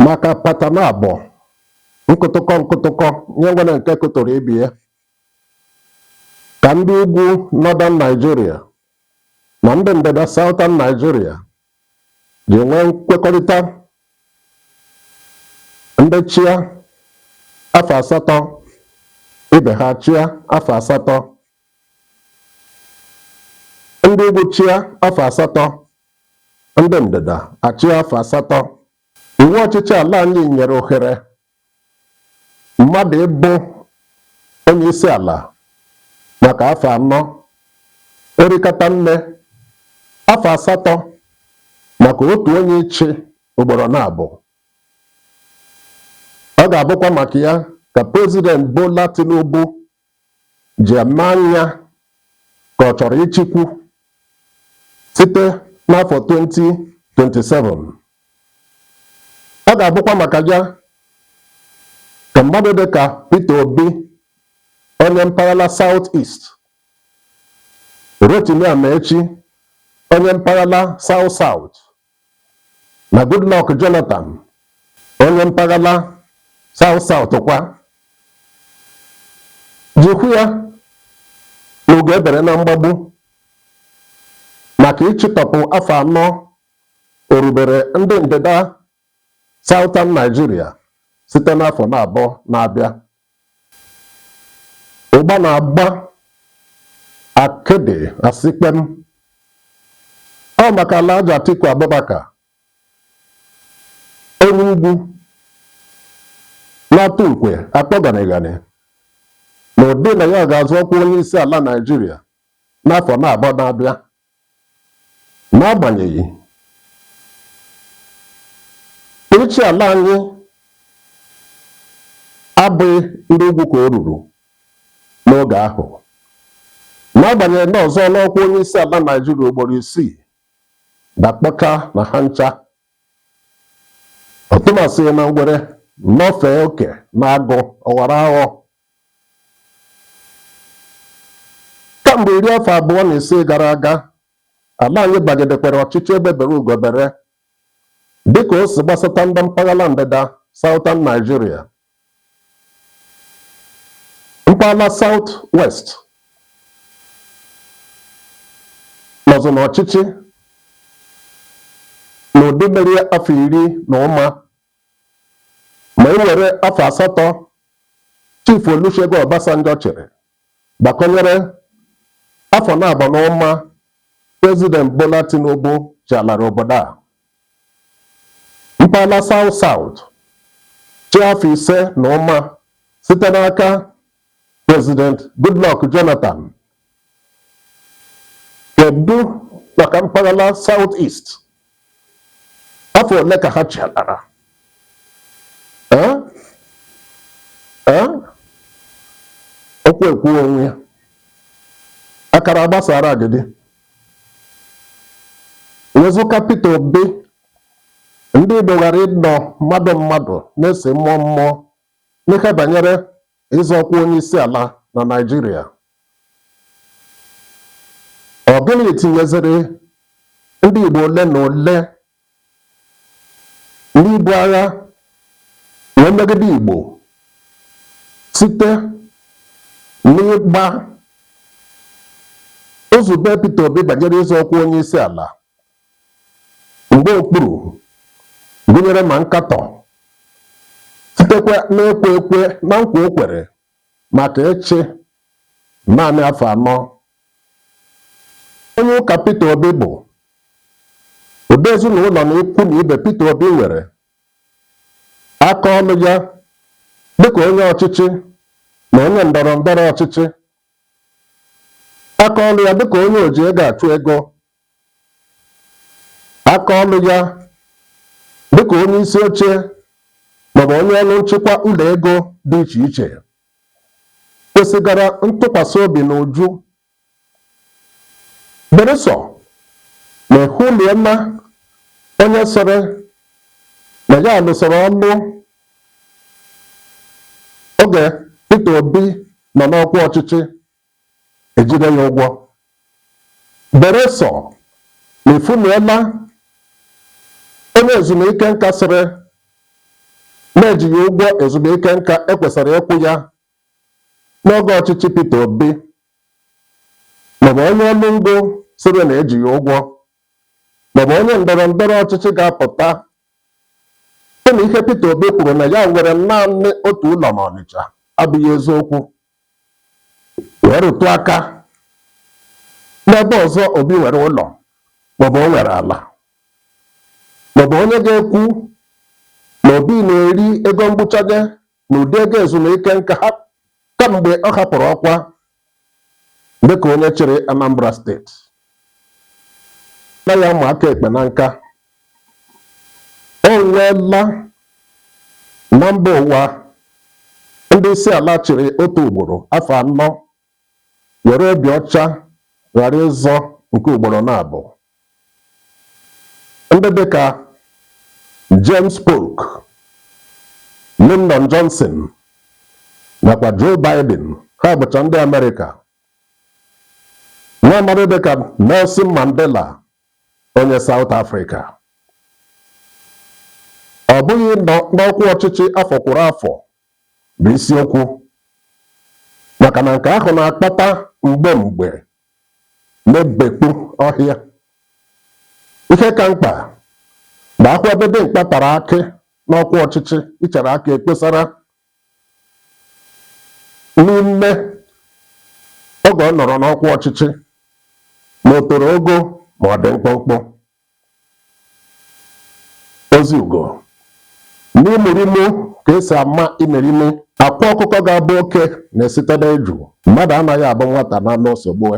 maka patana abụọ nkụtụkọ nkụtụkọ nye nwere nke kụtụrụ ibe ya ka ndị ugwu northern Nigeria na ndị ndịda southern Nigeria ji nwee nkwekọrịta ndị chịa afọ asatọ ibe ha achịa afọ asatọ ndị ugwu chịa afọ asatọ ndị ndịda achịa afọ asatọ iwu ọchịchị ala anyị nyere ohere mmadụ ịbụ onye isi ala maka afọ anọ o rikata nne afọ asatọ maka otu onye ịchị ugboro naabọ ọ ga-abụkwa maka ya ka prezident Bola Tinubu ji eme anya ka ọ chọrọ ịchịkwu site n'afọ 2027 ọ ga-abụkwa maka ya ka mmadụ dị ka Peter Obi onye mpaghara South East Rotimi Amaechi onye mpaghara South South na Goodluck Jonathan onye mpaghara South South kwa ji kwuo ya na ugo ebere na mgbagbu maka ịchịtọpụ afọ anọ o rubere ndị ndịda Southern Nigeria site n'afọ naabọ na-abịa Ụgba na-agba akịdị asị kpem. Ọ bụ maka Alhaji Atiku Abubakar, onye ugwu na-atụ nkwe akpọ ganịganị n'ụdị na ya ga-azọ ọkwa onyeisiala Naịjirịa n'afọ naabọ na-abịa N'agbanyeghị, ịchị ala anyị abụghị ndị ugwu ka o ruru n'oge ahụ. N'agbanyeghị na ọ zọọla ọkwa onye isi ala Naijiria ugboro isii dakpọchaa na ha ncha, ọtụmasịghị na ngwere nọfee oke n'agụ ọ ghọrọ aghọ Kamgbe iri afọ abụọ na isii gara aga, ala anyị bagidekwara ọchịchị egbe bere ugo bere dịka o si gbasata ndị mpaghara ndịda, Southern Nigeria, mpaghara South West nọzụ n'ọchịchị n'ụdị mere afọ iri na ụma Ma e were afọ asatọ Chief Olusegun Obasanjo chịrị gbakọnyere afọ naabọ na ụma President Bola Tinubu chịalara obodo a, mpaghara South-South chịa afọ ise na ụma site n'aka President Goodluck Jonathan Kedu maka mpaghara South East? Afọ ole ka ha chịalara? Okwu ekwu onwe ya, akara gbasara agidi. Wezụka Peter Obi, ndị Igbo gaara anọ mmadụ mmadụ na-esi mmụọ mmụọ n'ihe banyere ịzọ ọkwa onyeisiala na Naịjirịa. Ọ gịnị tinyeziri ndị Igbo ole na ole n'ibu agha wee megide Igbo site n'ịgba nzube Peter Obi banyere ịzọ ọkwa onyeisiala mgba okpuru gụnyere ma nkatọ sitekwa n'ekwe ekwe na nkwa o kwere maka ịchị naanị afọ anọ onye ụka Peter Obi bụ ụdị ezinụlọ na ikwu na ibe Peter Obi nwere aka ọlụ ya dịka onye ọchịchị na onye ndọrọ ndọrọ ọchịchị aka ọlụ ya dịka onye oji ego achụ ego aka ọlụ ya dịka onye isi oche maọbụ onye ọrụ nchịkwa ụlọ ego dị iche iche kwesịgara ntụkwasị obi n'uju beresọ ma ehuliela onye sịrị na ya lụsịrị ọlụ oge Peter Obi nọ n'ọkwa ọchịchị ejide ya ụgwọ beresọ na efunuela onye ezumike nka sịrị na eji ya ụgwọ ezumike nka ekwesịrị ịkwụ ya n'oge ọchịchị Peter Obi maọbụ onye ọrụ ngo sịrị na eji ya ụgwọ maọbụ onye ndọrọ ndọrọ ọchịchị ga-apụta sị na ihe Peter Obi kwuru na ya nwere naanị otu ụlọ n'Ọnịcha abụghị eziokwu wee rụtụ aka n'ebe ọzọ Obi nwere ụlọ maọbụ o nwere ala maọbụ onye ga-ekwu na Obi na-eri ego mgbụchaje n'ụdị ego ezumike nka ha kamgbe ọ hapụrụ ọkwa dịka onye chịrị Anambra steeti na ya ma aka ekpe na nka O nweela na mba ụwa ndị isi ala chịrị otu ugboro afọ anọ were obi ọcha ghara ịzọ nke ugboro naabọ. Ndị dịka James Polk, Lyndon Johnson nakwa Joe Biden ha bụcha ndị Amerịka. Nwa amadị dịka Nelson Mandela onye Saụt Afrịka. Ọ bụghị n'ọkwa ọchịchị afọ kwuru afọ bụ isiokwu maka na nke ahụ na-akpata mgbe mgbe na-ebekpu ọhịa. Ihe ka mkpa bụ a hụ ebe dimkpa tara akị n'ọkwa ọchịchị ichere akị ekposara n'ime oge ọ nọrọ n'ọkwa ọchịchị ma o toro ogo ma ọ dị mkpụmkpụ ozi ugo n'imurimu ka esi ama imerime akwa ọkụkọ ga-abụ oke na-esite n'eju mmadụ anaghị abụ nwata na n'osogbue